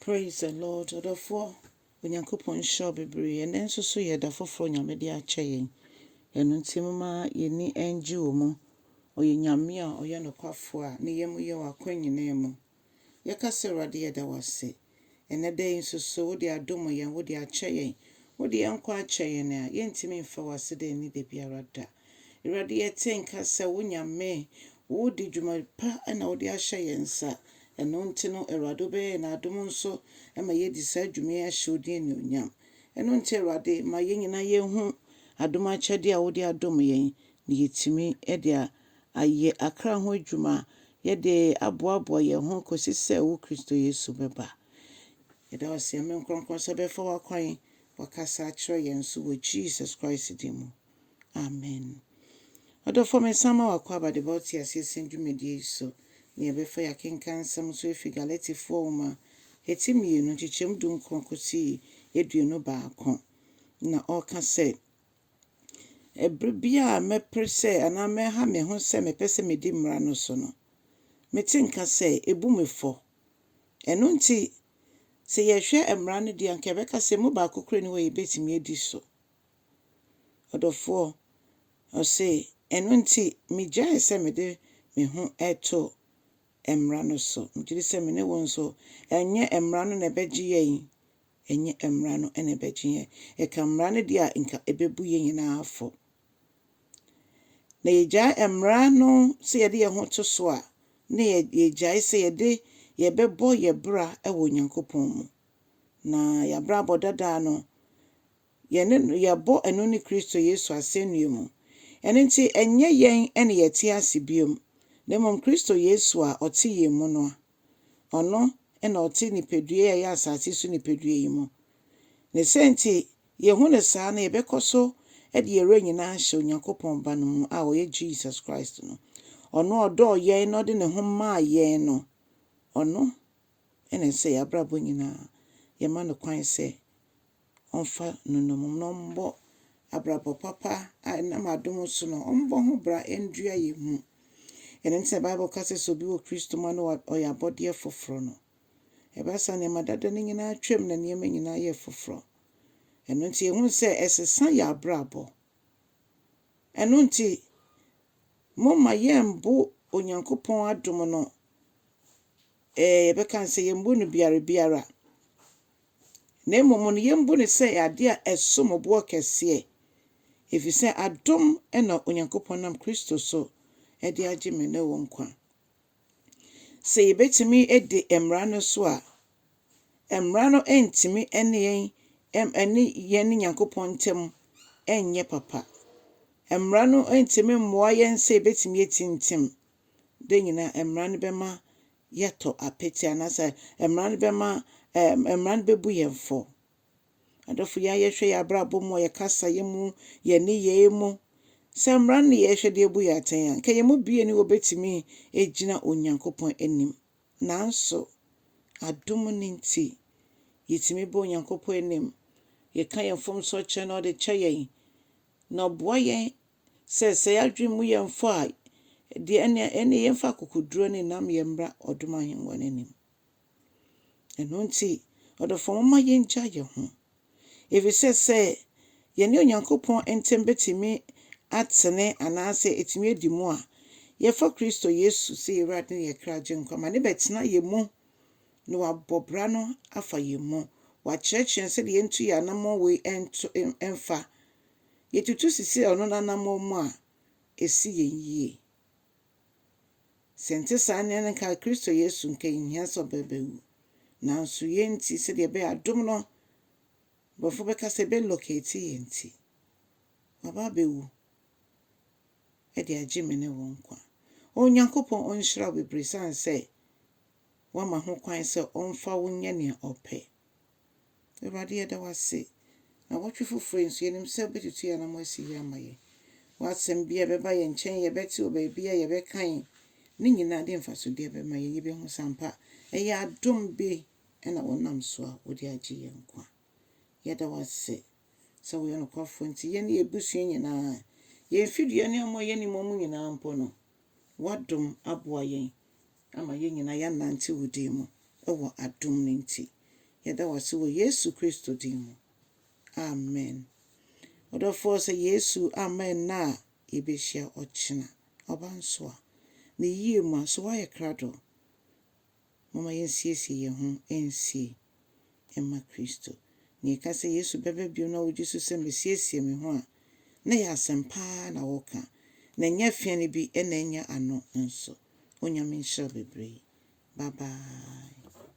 Praise the Lord ɔdɔfoɔ Onyankopɔn nhyira wo bebree ɛnɛ nso so yɛ da foforɔ Nyame de akyɛ yɛn ɛno nti moma yɛni ɛngye wɔ mu ɔyɛ Nyame a ɔyɛ nokwafoɔ a ne yɛ mu yɛ wɔ akwan nyinaa mu yɛka sɛ Awurade yɛda wo ase ɛnɛ da yi nso so wode adom yɛn wode akyɛ yɛn wode yɛn nkwa akyɛ yɛn a yɛntumi mfa wo ase da ɛni da biara da Awurade yɛte nka sɛ wo Nyame, wo de dwuma pa na wo de ahyɛ yɛn nsa, ɛno nti no Awurade wo bɛyɛ yɛn adom nso ma yɛadi saa dwuma yi ahyɛ wo din anuonyam. Ɛno nti Awurade ma yɛn nyinaa yɛn hu adom akyɛdeɛ a wo de adom yɛn na yɛtumi de ayɛ akra ho adwuma, yɛde aboaboa yɛn ho kɔsi sɛ wo Kristo Yesu bɛba. Yɛda wo ase Nyame nkorɔnkorɔn sɛ wobɛfa wakwan wakasa akyerɛ yɛn so wɔ Jesus Christ din mu. Amen. Ɔdɔfoɔ mesan ma wo akwaaba de ba wo teaseɛ sɛm dwumadie yi so. Nea ɛbɛfa yɛ akenkan nsɛm so ɛfiri Galatifoɔ nwoma heti mmienu nkyekyɛm du nkron kɔsii aduonu baako. Na ɔreka sɛ, Ɛberɛ biara a mɛpere sɛ anaa mɛha me ho sɛ mepɛ sɛ medi mmara no so no, mete nka sɛ ɛbu me fɔ. Ɛno nti, sɛ yɛhwɛ mmara no deɛ anka yɛbɛka sɛ ɛmu baako koraa nni hɔ a yɛbɛtumi adi so. Ɔdɔfoɔ, ɔse, ɛno nti megyae sɛ mede me ho to Mmara no so. Megye di sɛ me ne wo nso, ɛnyɛ Mmara no na ɛbɛgye yɛn, ɛnyɛ Mmara no na ɛbɛgye yɛn. Yɛka Mmara no deɛ a, nka ɛbɛbu yɛn nyinaa fɔ. Na yɛgyae Mmara no sɛ yɛde yɛn ho to so a, na yɛgyae sɛ yɛde yɛbɛbɔ yɛn bra wɔ Onyankopɔn mu. Na yɛn abrabɔ dada no, Yɛne no, yɛbɔ ɛno ne Kristo Yesu asɛnnua mu. Ɛno nti, ɛnyɛ yɛn na yɛte ase bio, na mmom Kristo Yesu a ɔte yɛn mu no a. Ɔno na ɔte nipadua yi a ɛyɛ asase so nipadua yi mu. Ne saa nti, yɛhu no saa na yɛbɛkɔ so de yɛn werɛ nyinaa ahyɛ Onyankopɔn Ba no mu a ɔyɛ Jesus Christ no. Ɔno a ɔdɔɔ yɛn na ɔde ne ho maa yɛn no, ɔno na ɛsɛ sɛ yɛn abrabɔ nyinaa yɛma no kwan sɛ ɔmfa nnommum na ɔmmɔ abrabɔ papa a ɛnam adom so no, ɔmmɔ ho bra ndua yɛn mu. Ɛno nti na Bible ka sɛ sɛ obi wɔ Kristo mu a na ɔyɛ abɔdeɛ foforɔ no. Ɛba saa nneɛma dada no nyinaa atwam na nneɛma nyinaa yɛ foforɔ. Ɛno nti yɛhunu sɛ ɛsesa yɛn abrabɔ. Ɛno nti momma yɛmbo Onyankopɔn adom no. Ee, yɛbɛka no sɛ yemmu no biara biara, na mmom no yemmu no sɛ ade a ɛsom bo ɔkɛseɛ, efisɛ adom na Onyankopɔn nam Kristo so de agye me ne wo nkwa. Sɛ yebetumi adi Mmara no so a, Mmara no ntumi ne yɛn ne yɛn ne Nyankopɔn ntam nyɛ papa. Mmara no ntumi mmoa yɛn sɛ yebetumi atintim. Dɛn nyina mmara no bɛma yɛatɔ apete anaasɛ mmara no bɛma ɛɛ mmara no bɛbu yɛn fɔ. Adɔfo, yɛn a yɛhwɛ yɛn abrabɔ mu, yɛn kasaeɛ mu, yɛn nneyɛeɛ mu, sɛ mmara no na yɛhwɛ de abu yɛn atɛn a, nka yɛn mu biara nni hɔ bɛtumi agyina Onyankopɔn anim. Nanso, adom no nti, yɛtumi ba Onyankopɔn anim, yɛka yɛn mfomsoɔ kyerɛ no na ɔde kyɛ yɛn, na ɔboa yɛn sɛ sɛ yɛadwene mu yɛ mfɔ a, deɛ ɛnneɛ ɛnneɛ yɛmfa akokoɔduro ne nnamyɛ mmra ɔdom ahengua no anim. Ɛno nti, ɔdɔfoɔ momma yɛngya yɛn ho. Ɛfiri sɛ sɛ yɛne Onyankopɔn ntam bɛtumi atene anaasɛ ɛtumi adi mu a, yɛfa Kristo Yesu sɛ yɛn Awurade ne yɛn kra gyenkwa ma ne bɛtena yɛn mu na wabɔ bra no afa yɛn mu. Wakyerɛkyerɛ yɛn sɛdeɛ yɛntu yɛn anammɔn wei nto mfa. yetutu sisi ɔno n'anammɔn mu a, esi yɛn yiye. Sɛ ɛnte saa nea na nka Kristo Yesu nka enhia sɛ ɔbɛbɛwu. Nanso yɛn nti, sɛdeɛ ɛbɛyɛ adom no, Borɔfo bɛka sɛ ɛbɛlocate yɛn nti, waba abɛwu de agye me ne wo nkwa. O Onyankopɔn, ɔnhyira wo bebree esiane sɛ woama ho kwan sɛ ɔmfa wo nyɛ nea ɔpɛ. Awurade, yɛda wo ase. Nnawɔtwe foforo yi nso, yɛnim sɛ wubetutu yɛn anammɔn asi yie ama yɛn. W'asɛm biara a ɛbɛba yɛn nkyɛn, yɛbɛte wɔ baabi a yɛbɛkan ne nyinaa de mfasodeɛ bɛma yɛn. Yɛbɛhu sɛ ampa, ɛyɛ adom bi na wonam so a wode agye yɛn nkwa. Yɛda wo ase sɛ woyɛ nokwafoɔ nti, yɛne yɛn abusua nyinaa, yɛn fidua ne amɔ a yɛne mmɔ mu nyinaa mpo no, W'adom aboa yɛn ama yɛn nyinaa yɛanante wo din mu wɔ adom no nti. Yɛda wo ase wɔ Yesu Kristo din mu, amen. Ɔdɔfoɔ, sɛ Yesu amma ɛnnɛ a yɛbɛhyia ɔkyena, ɔba nso a, ne yie mu a, so woayɛ krado? Momma yɛnsiesie yɛn ho nsie mma Kristo. Nea ɛka sɛ Yesu bɛba bio na wogye so sɛ Masiesie me ho a, na ɛyɛ asɛm pa ara na wɔreka, na ɛnyɛ afiane bi na ɛnyɛ ano nso. Onyame nhyira wo bebree. Bye bye.